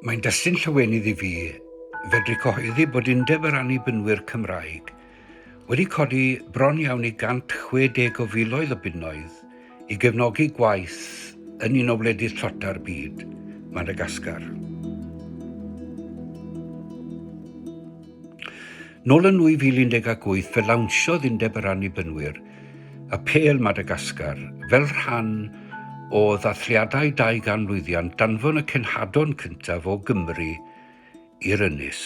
Mae'n destun llawenydd i fi fedru cyhoeddi bod Undeb yr Annibynwyr Cymraeg wedi codi bron iawn i 160 o filoedd o bunnoedd i gefnogi gwaith yn un o wledydd tlota'r byd, Madagascar. Nôl yn 2018 fe lawnsiodd Undeb yr Annibynwyr y Pêl Madagascar fel rhan o ddathliadau 200 lwyddiant danfon y cenhadon cyntaf o Gymru i'r Ynys.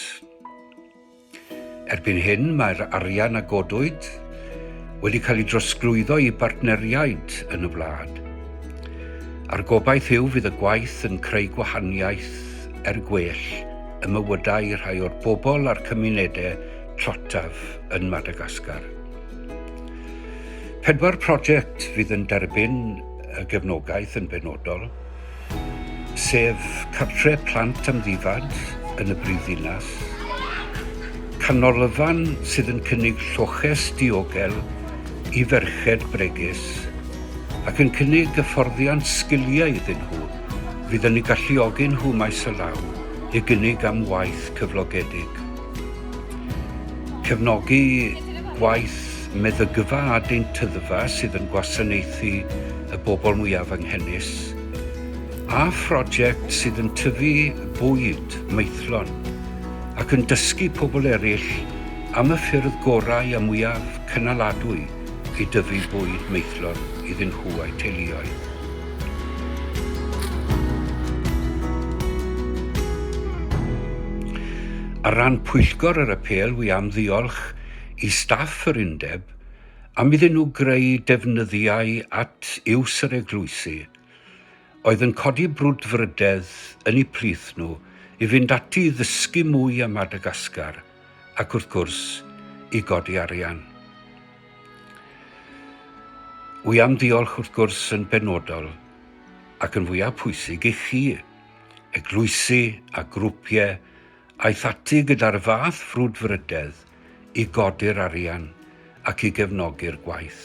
Erbyn hyn mae'r arian a godwyd wedi cael ei drosglwyddo i bartneriaid yn y wlad. A'r gobaith yw fydd y gwaith yn creu gwahaniaeth er gwell ym mywydau rhai o'r bobl a'r cymunedau tlotaf yn Madagascar. Pedwar prosiect fydd yn derbyn y gefnogaeth yn benodol, sef cartre plant amddifad yn y brifddinas, canolfan sydd yn cynnig lloches diogel i ferched bregus ac yn cynnig hyfforddiant sgiliau iddyn nhw fydd yn eu galluogi nhw maes o law i gynnig am waith cyflogedig. Cefnogi gwaith meddygfa a deintyddfa sydd yn gwasanaethu y bobl mwyaf anghenus, a phroject sydd yn tyfu bwyd maethlon ac yn dysgu pobl eraill am y ffyrdd gorau a mwyaf cynaladwy i dyfu bwyd maethlon iddyn nhw a'u teuluoedd. Ar ran Pwyllgor yr Apêl, wi am ddiolch i staff yr Undeb am iddyn nhw greu defnyddiau at iws yr eglwysi, oedd yn codi brwdfrydedd yn eu plith nhw i fynd ati i ddysgu mwy am Madagascar, ac wrth gwrs i godi arian. Wi am ddiolch wrth gwrs yn benodol ac yn fwyaf pwysig i chi, eglwysi a grwpiau aeth ati gyda'r fath frwdfrydedd i godi'r arian ac i gefnogi'r gwaith.